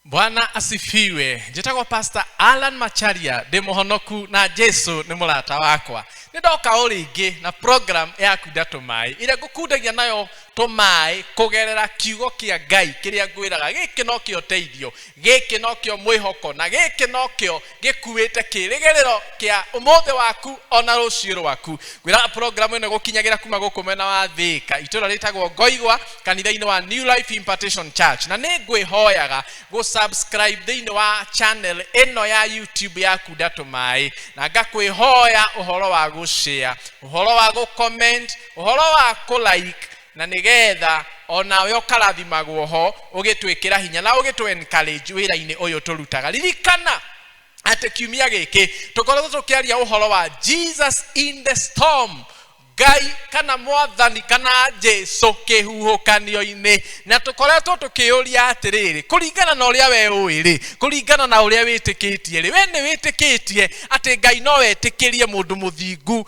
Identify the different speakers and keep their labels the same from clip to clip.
Speaker 1: bwana asifiwe njĩtagwo pastor alan macharia ndĩ mũhonoku na jesu nĩ mũrata wakwa nĩ ndoka o rĩngĩ na program ya kunda tũmaĩ ĩrĩa ngũkundagia nayo tũmaĩ kũgerera kiugo kĩa ngai kĩrĩa ngwĩraga gĩkĩ no kĩo teithio gĩkĩ no kĩo mwĩhoko na gĩkĩ no kĩo gĩkuĩte kĩrĩgĩrĩro kĩa ũmũthĩ waku ona rũciũ rwaku ngwĩra programu ĩno gũkinyagĩra kuma gũkũ mwena wa thĩka itũra rĩtagwo ngoigwa kanitha-inĩ wa new life impartation church na nĩ ngwĩhoyaga gũsubscribe thĩinĩ wa channel ĩno ya youtube yaku ndatũmaĩ na ngakwĩhoya ũhoro wa gũshare ũhoro wa gũcomment ũhoro wa kũlike na nĩ getha o nawe ũkarathimagwo ho ũgĩtwĩkĩra hinya na ũgĩtũ encourage wĩra-inĩ ũyũ tũrutaga ririkana atĩ kiumia gĩkĩ tũkoretwo tũkĩaria ũhoro wa jesus in the storm ngai kana mwathani kana jesu kĩhuhũkanio-inĩ na tũkoretwo tũkĩũria atĩrĩrĩ kũringana na ũrĩa we ũĩ rĩ kũringana na ũrĩa wĩtĩkĩtie rĩ we nĩ wĩtĩkĩtie atĩ ngai no etĩkĩrie mũndũ mũthingu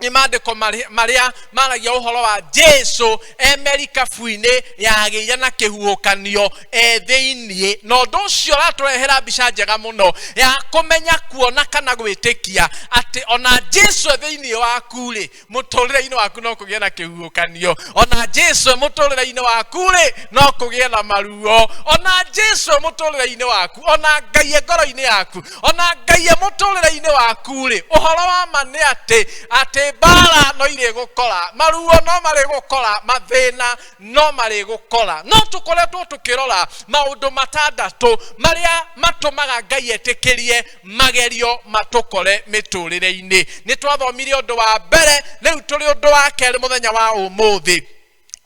Speaker 1: nĩ maandĩko marĩ- marĩa maragia ũhoro wa jesu e merikabu-inĩ yagĩire na kĩhuhũkanio e thĩiniĩ na ũndũ ũcio ũratũrehera mbica njega mũno ya kũmenya kuona kana gwĩtĩkia atĩ ona jesu e thĩiniĩ waku-rĩ mũtũrĩre-inĩ waku no kũgĩe na kĩhuhũkanio ona jesu e mũtũrĩre-inĩ waku-rĩ no kũgĩe na maruo ona jesu e mũtũrĩre-inĩ waku ona ngai e ngoro-inĩ yaku ona ngai e muturire-ini waku ri uhoro wa ma ni ati ati mbara no iri gukora maruo no mari gukora mathina no mari gukora no tukoretwo tukirora maundu matandatu maria matumaga ngai etikirie magerio matukore miturire-ini ni twathomire undu wa mbere riu turi undu wa keri muthenya wa umuthi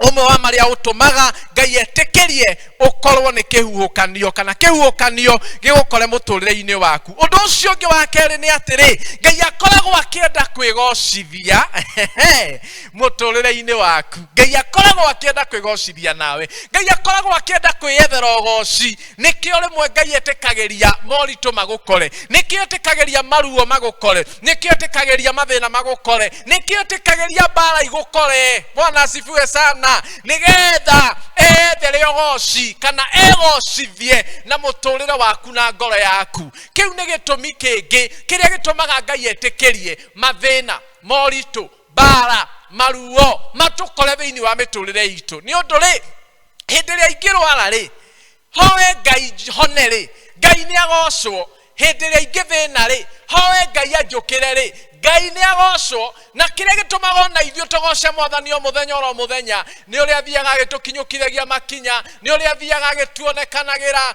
Speaker 1: ũmwe wa marĩa ũtũmaga ngai etĩkĩrie ũkorwo nĩ kĩhuhũkanio kana kĩhuhũkanio gĩgũkore mũtũrĩre-inĩ waku ũndũ ũcio ũngĩ wa kerĩ nĩ atĩrĩ ngai akoragwo akĩenda kwĩgocithia mũtũrĩre-inĩ waku ngai akoragwo akĩenda kwĩgocithia nawe ngai akoragwo akĩenda kwĩyethera ũgoci nĩkĩo rĩmwe ngai etĩkagĩria moritũ magũkore nĩkĩo etĩkagĩria maruo magũkore nĩkĩo etĩkagĩria mathĩna magũkore nĩkĩo etĩkagĩria mbara igũkore bwana asifiwe sana nĩgetha ethere ũgoci kana egocithie na mũtũrĩre waku na ngoro yaku kĩu nĩ gĩtũmi kĩngĩ kĩrĩa gĩtũmaga ngai etĩkĩrie mathĩna moritũ mbara maruo matũkore thĩinĩ wa mĩtũrĩre itũ nĩ ũndũ rĩ hĩndĩ ĩrĩa ingĩrwara rĩ hoe ngai hone rĩ ngai nĩ agocwo hĩndĩ ĩrĩa ingĩthĩna rĩ hoe ngai anjũkĩre rĩ ngai nĩ agocwo na kĩrĩa gĩtũmaga ona ithuĩ tũgoce mwathani o mũthenya oro mũthenya nĩ ũrĩa athiaga agĩtũkinyũkithagia makinya nĩ ũrĩa athiaga agĩtuonekanagĩra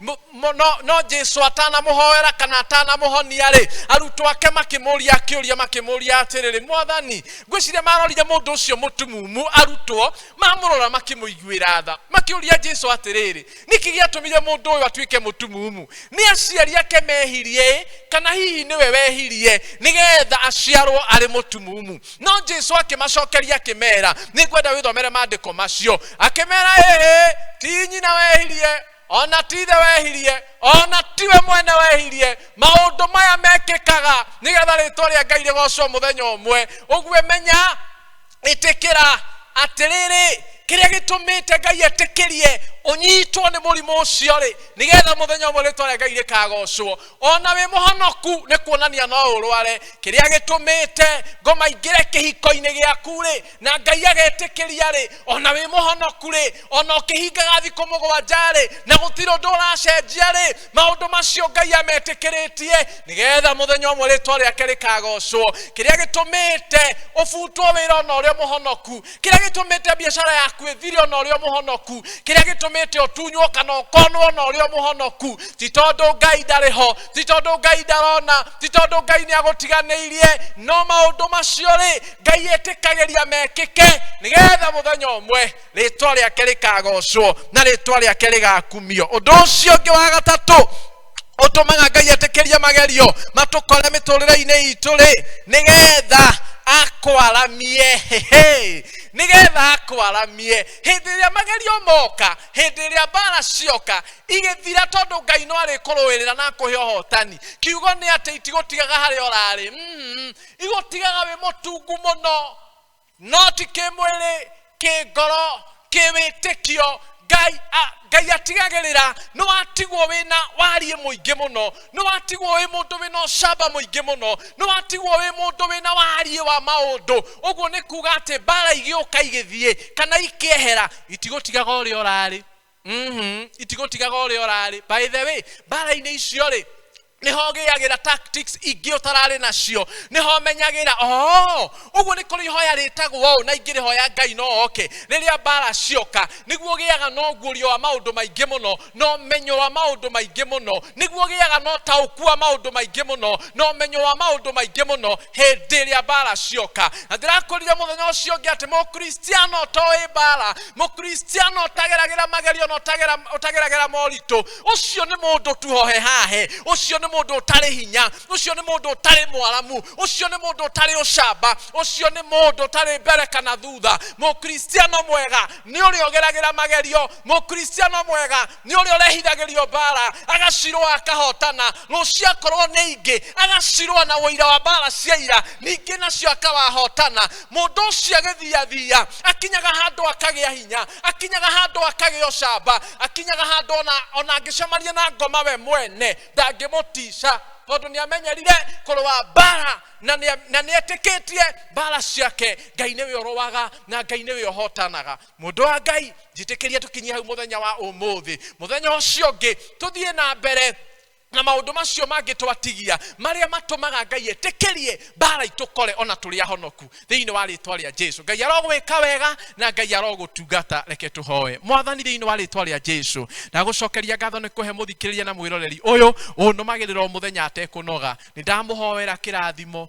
Speaker 1: Mo- mo- no no jesu atanamũhoera kana atanamũhonia-rĩ arutwo ake makĩmũria kĩũria makĩmũria atĩrĩrĩ mwathani ngwĩciria marorire mũndũ ũcio mũtumumu arutwo mamũrora makĩmũiguĩra tha makĩũria jesu atĩrĩrĩ nĩkĩ gĩatũmire mũndũ ũyũ atuĩke mũtumumu nĩ aciari ake mehirie kana hihi nĩwe wehirie nĩgetha aciarwo arĩ mũtumumu no jesu akĩmacokeria akĩmera nĩ ngwenda wĩthomere maandĩko macio akĩmera ĩhĩ ti nyina wehirie ona ti ithe wehirie ona tiwe mwene wehirie maũndũ maya mekĩkaga nĩgetha rĩtwa rĩa ngai rĩgocwo mũthenya ũmwe ũguo menya ĩtĩkĩra atĩrĩrĩ kĩrĩa gĩtũmĩte ngai etĩkĩrie ũnyitwo nĩ mũrimũ ũcio rĩ nĩgetha mũthenya ũmwe rĩtwa rĩa ngai rĩkagocwo ona wĩ mũhonoku nĩ kuonania no ũrware kĩrĩa gĩtũmĩte ngoma ingĩre kĩhiko-inĩ gĩaku rĩ na ngai agetĩkĩria rĩ ona wĩ mũhonoku rĩ ona ũkĩhingaga thikũ mũgwanja rĩ na gũtirĩ ũndũ ũracenjia rĩ maũndũ macio ngai ametĩkĩrĩtie nĩgetha mũthenya ũmwe rĩtwa rĩake rĩkagocwo kĩrĩa gĩtũmĩte ũbutwo wĩra ona ũrĩa mũhonoku kĩrĩa gĩtũmĩte biacara yaku ĩthire ona ũrĩa mũhonoku kĩrĩa gĩtũmĩte ũtunywo kana ũkonwo ona ũrĩa mũhonoku ti tondũ ngai ndarĩ ho ti tondũ ngai ndarona ti tondũ ngai nĩ agũtiganĩirie no maũndũ macio rĩ ngai ĩtĩkagĩria mekĩke nĩgetha mũthenya ũmwe rĩtwa rĩake rĩkagocwo na rĩtwa rĩake rĩgakumio ũndũ ũcio ũngĩ wa gatatũ ũtũmaga ngai etĩkĩrie magerio matũkore mĩtũrĩre-inĩ itũ rĩ nĩgetha akwaramie hehe nĩgetha akwaramie hĩndĩ ĩrĩa magerio moka hĩndĩ ĩrĩa mbara cioka igĩthira tondũ ngai no arĩkũrũĩrĩra na akũhe ũhotani kiugo nĩ atĩ itigũtigaga harĩa ũrarĩ mm. igũtigaga wĩ mũtungu mũno no ti kĩmwĩrĩ kĩngoro kĩwĩtĩkio ngai a- ngai atigagĩrĩra nĩ watigwo wĩna wariĩ mũingĩ mũno nĩ watigwo wĩ mũndũ wĩna ũcamba mũingĩ mũno nĩ watigwo wĩ mũndũ wĩna wariĩ wa maũndũ ũguo nĩ kuga atĩ mbara igĩũka igĩthiĩ kana ikĩehera itigũtigaga ũrĩa ũrarĩ Mhm, itigũtigaga ũrĩa ũrarĩ by the way mbara-inĩ icio rĩ nĩho ũgĩagĩra tactics ingĩ ũtararĩ nacio nĩho menyagĩra oo ũguo nĩ kũrĩ ihoya rĩtagwo ũũ na ingĩ rĩhoya ngai no oke rĩrĩa mbara cioka nĩguo ũgĩaga na ũguũrio wa maũndũ maingĩ mũno na ũmenyo wa maũndũ maingĩ mũno nĩguo ũgĩaga na ũtaũku wa maũndũ maingĩ mũno na ũmenyo wa maũndũ maingĩ mũno hĩndĩ ĩrĩa mbara cioka na ndĩrakũrire mũthenya ũcio ũngĩ atĩ mũkristiano ũtoĩ mbara mũkristiano ũtageragĩra magerio na ũtagera- ũtageragĩra moritũ ũcio nĩ mũndũ tu hohe hahe ũcio nĩ mũndũ ũtarĩ hinya ũcio nĩ mũndũ ũtarĩ mwaramu ũcio nĩ mũndũ ũtarĩ ũcamba ũcio nĩ mũndũ ũtarĩ mbere kana thutha mũkristiano mwega nĩ ũrĩa ũgeragĩra magerio mũkristiano mwega nĩ ũrĩa ũrehithagĩrio mbara agacirũa akahotana no ciakorwo nĩ ingĩ agacirũa na ũira wa mbara cia ira ningĩ nacio akawahotana mũndũ ũcio agĩthiathia akinyaga handũ akagĩa hinya akinyaga handũ akagĩa ũcamba akinyaga handũ ona, ona angĩcemania na ngoma we mwene ndangĩmũtica tondũ nĩ amenyerire kũrũa mbara na nĩ- na nĩ etĩkĩtie mbara ciake ngai nĩwe ũrũaga na ngai nĩwe ũhotanaga mũndũ wa ngai njĩtĩkĩria tũkinyie hau mũthenya wa ũmũthĩ mũthenya ũcio ũngĩ tũthiĩ na mbere na maũndũ macio mangĩ twatigia marĩa matũmaga ngai etĩkĩrie mbara itũkore ona tũrĩ ahonoku thĩinĩ wa rĩtwa rĩa jesu ngai arogwĩka wega na ngai arogũtungata reke tũhoe mwathani thĩinĩ wa rĩtwa rĩa jesu ndagũcokeria ngatho nĩ kũhe mũthikĩrĩria na mwĩroreri ũyũ ũnũmagĩrĩra o mũthenya atekũnoga nĩ ndamũhoera kĩrathimo